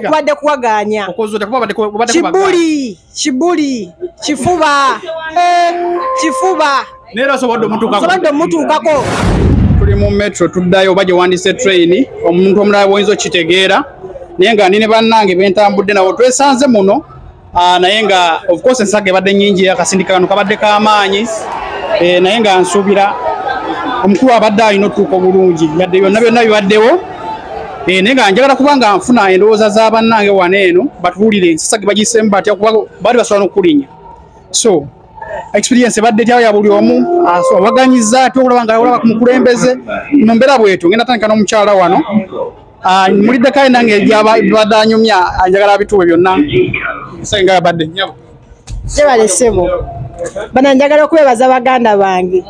kubadde kuwagaanya kibuli kibuli kifuba eh, kifuba neera sobodde omutuukako tuli mu metro tuddayo oba gyewandise train omuntu omulala bwoyinza okitegeera naye nga ndi ne bannange bentambudde nabo twesanze muno Ah, naye nga of course ensaga ebadde nyingi akasindika kano kabadde kamaanyi eh, naye nga nsuubira omukulu abadde alina otuuka obulungi yadde byonna byonna bibaddewo eh, naye nga njagala kuba nga nfuna endowooza za bannange wano eno batuwulire ensasa ge bagiseemu batya kuba baali basobola n'okukulinya so experience ebadde tyawo ya buli omu awaganyiza ati okulaba nga olaba ku mukulembeze mu mbeera bwetu ngenda tandika n'omukyala wano Ah, mulidde kale nange ebyabadde anyumya anjagala abituwe byonna senga yabadde nyabo jebale sebo bana njagala okwebaza baganda bange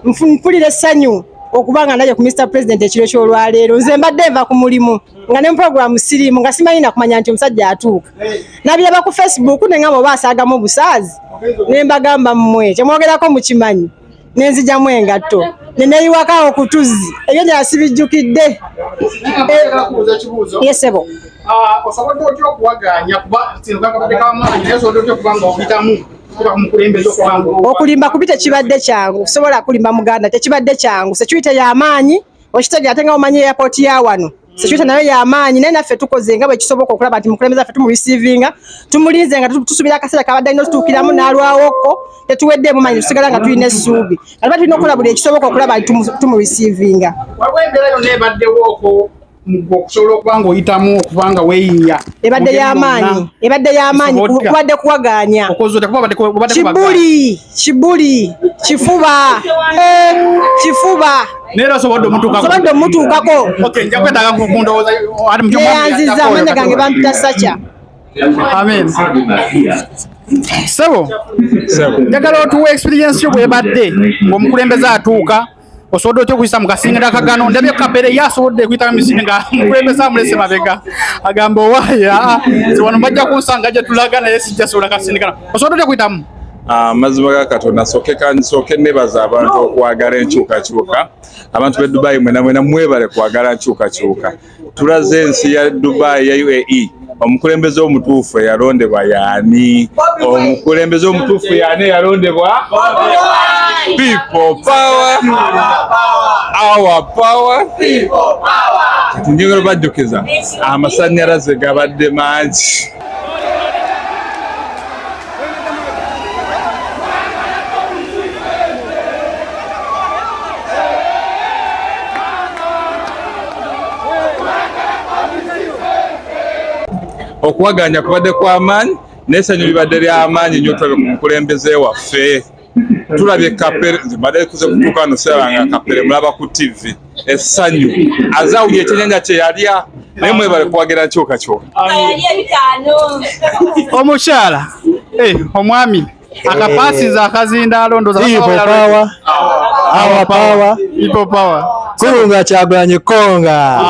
mpulira essanyu okuba nga naye ku Mr President ekiro ky'olwaleero nze mbadde nva ku mulimu nga ne mupuroguramu siriimu nga simanyi nakumanya nti omusajja atuuka nabiraba ku Facebook ne ngamba oba asaagamu obusaazi ne mbagamba mmwe kyemwogerako mukimanyi ne nzijamu engatto ne neyiwaka okutuzzi ebyo gyasibijjukidde yesebo ah, osobodde otya okuwaganya kuba kino kakabadde kamaanyi naye osobodde otya okuba nga okuyitamu okulimba kubi tekibadde kyangu sobola kulimba muganda tekibadde kyangu sekyuite yamaanyi okitegera ate nga omanyi airport ya wano mm. security nayo yamaanyi naye naffe tukoze nga bwekisoboka okulaba nti mukulembeze affe tumurisivinga tumulinze nga tusuubira akaseera kabadde alina otutuukiramu n'alwawoko tetuweddeemu manyi tusigala nga tulina essuubi aliba tulina okukola buli ekisoboka okulaba nti tumurisivinga waliwo embeera yonna ebaddewooko okusobola okuba nga oyitamu okuba nga weyiiya ebadde y'amaanyi ebadde y'amaanyi kubadde kuwagaanya kibuli kibuli kifuba eh, kifuba naye osobodde omutuukaosobodde omutuukako yeyanziza amanya gange bampita saca amen sebo njagala otuwa experience yo bwebadde ngaomukulembeze atuuka osobola otya okuyisa mu kasingira kagano ndabye kabere ye asobodde okuyita misiri nga mukulembeze amulese mabega agamba owaaye aa nze wano bajja kunsanga gye tulaga naye sijja sobola kasindika kano osobola otya okuyitamu amazima ah, ga katonda soke kansoke nebaza abantu okwagala enkyukakyuka abantu be dubai mwena mwena mwebale kwagala nkyukakyuka tulaze ensi ya dubai ya uae omukulembeze omutuufu eyalondebwa yaani omukulembeze omutuufu yaani eyalondebwa People power. Our power. People power. Kati njogera bajjukiza amasannyalaze gabadde mangi. okuwaganya kubadde kwa maanyi n'essanyu libadde ly'amaanyi nnyo tulabe ku mukulembeze waffe tulabye kapere nze mbadde kuze kutuuka wano sirabanga kapere mulaba ku tv essanyu azawulya ekyenyanja kye yalya naye mwebale kuwagira kyoka kyoka omukyala eh, omwami akapasiza eh. akazindaalo ndozapawa kunga kyagulanye konga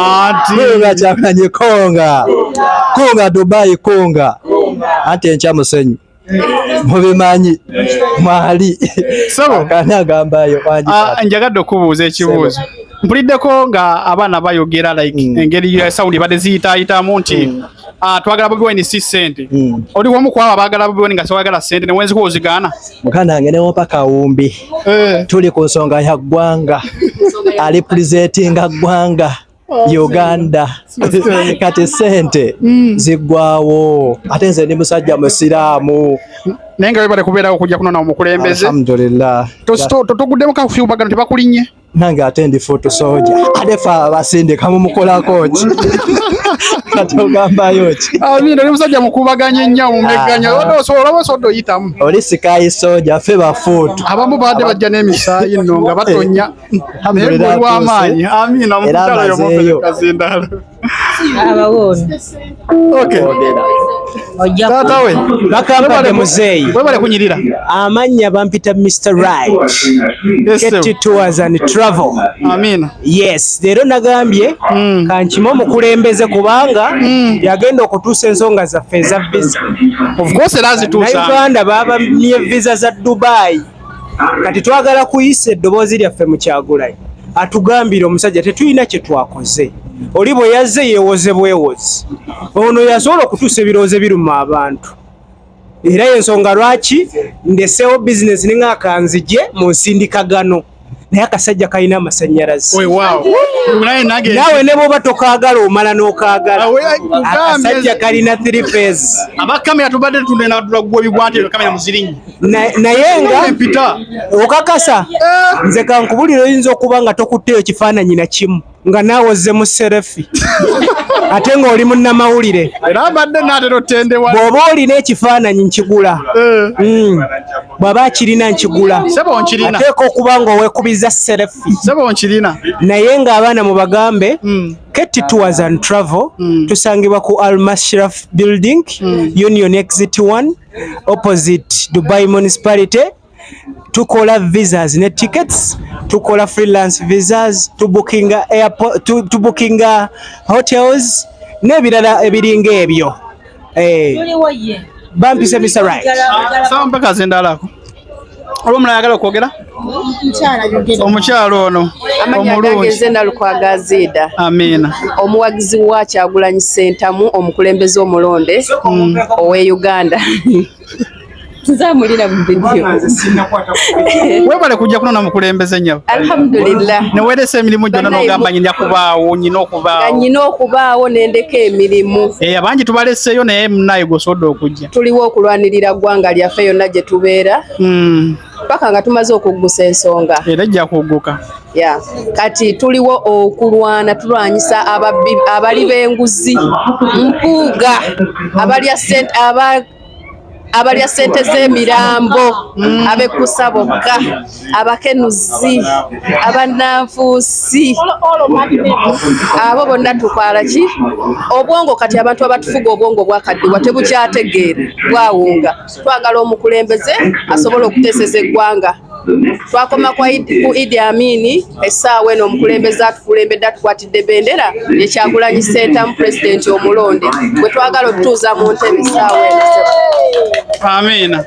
kunga kyagulanye konga kunga dubai kunga ante enkya musenyu mubimanyi mwali sebo kani agambayo kwanji ah, njagadde okubuuza ekibuuzo mpuliddeko nga abaana bayogera like mm. engeri ya saudi bade ziyitayitamu nti mm. ah, twagala bobi wine si sente mm. oli wamu kwabo abagala bobi wine nga siwagala sente newenzikuwa ozigaana mukana wange newopa kawumbi eh. tuli ku nsonga ya ggwanga alipulizetinga ggwanga Uganda kati sente mm. ziggwawo ate nze ndi musajja musiraamu naye nga webale kubeerawo okujja kunona omukulembeze alhamdulillah totuguddemu kafyubagano tebakulinye nange ate ndi futu soja ate fe abasindika mumukolako ki kati ogambayo ki amina oli musajja mukubaganya ennyo omumegganya olaba osobola oyitamu oli sikayi soja fe bafuutu abamu baadde bajja n'emisaayi nno nga batonya amaanyi amina mukyala yomufereka kazindalo abawona taata we bakampade muzeeyi webale kunyirira amannya bampita mr right kt tours and travel amina yes leero nagambye hmm. kankima omukulembeze kubanga hmm. yagenda okutuusa ensonga zaffe eza visa nauganda babamye visa za dubai kati twagala kuyisa eddoboozi lyaffe mu kyagulayi atugambire omusajja tetulina kye twakoze oli bwe yazze yeewoze bwewozi ono yasobola okutuusa ebirowoozo biruma abantu era yensonga lwaki ndeseewo bizinesi ninga akanzije mu nsindikagano naye akasajja kalina amasanyalaze naawe ne bwoba tokaagala omala n'okaagala akasajja kalina three phase abakamera tubadde tunenaatula gwe bikwatiro kamera muzirinyi naye nga okakasa eh. nze kankubulira oyinza okuba nga tokutteyo kifaananyi na kimu nga naawe ozze mu serefi ate ng'oli munnamawulire bw'oba olina ekifaananyi nkigula eh. hmm. bw'aba akirina nkigula ateeka okuba ng'owekubiza serefi naye ng'abaana mu bagambe hmm. ketti tours and travel hmm. tusangibwa ku almashraf building union exit 1 opposite Dubai Municipality tukola visas ne tickets tukola freelance visas to booking airport to, to booking hotels ne birala ebiringa ebyo eh tuliwo ye bampise Mr. Right sawa mpaka zindalako oba omulala ayagala okwogera omukyalo ono omulungialukwagaziida amiina omuwagizi wa kyagulanyi sentamu omukulembeze omulonde mm. owe uganda tuzamulira webale kujja kuno namukulembeze nyabo alhamdulillah neweresa emirimu gyona nogamba nyina kubaawo nyina okubaawo nyina okubaawo nendeka emirimu eya eh, bangi tubaleseyo naye munaye gwosobodde okujja tuliwo okulwanirira ggwanga lyaffe yonna gye tubeera hmm. paka nga tumaze okuggusa ensonga era ejja kugguka ya kati tuliwo okulwana tulwanyisa ababbi abali b'enguzi mpuuga abalya sente aba abalya sente z'emirambo hmm. abekkusa bokka abakenuzi abananfuusi abo bonna tukwala ki obwongo kati abantu abatufuga obwongo bwakaddiwa tebukyategeera bwawunga twagala omukulembeze asobola okuteeseza eggwanga twakoma ku idi amini essaawa eno omukulembeze atukulembedde atukwatidde bendera ekyagulanyi sentamu pulezidenti omulonde bwe twagala otutuuza mu ntebe essaawa eno amiina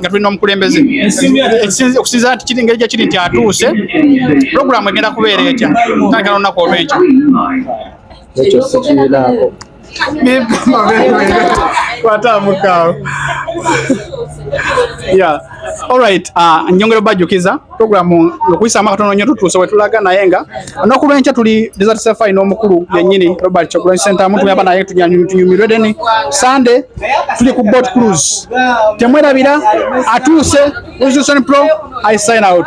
nga tulina omukulembeze okusinza nti kiri ngeri gyekiri nti atuuse pulogulaamu egenda kubeera ekya tandika nolunaku olwenkyo ekyo sikirinaako kwataamukaawo ya olright ah, njongera obajjukiza programu okuyisaamu akatono nnyo tutuuse we tulaga naye nga olunaku lw'enkya tuli desert safari n'omukulu yennyini robert kyagulanyi sentamu tuyamba naye tunyumirwe deni sande tuli ku boat cruise temwerabira atuuse uzusoni pro i sign out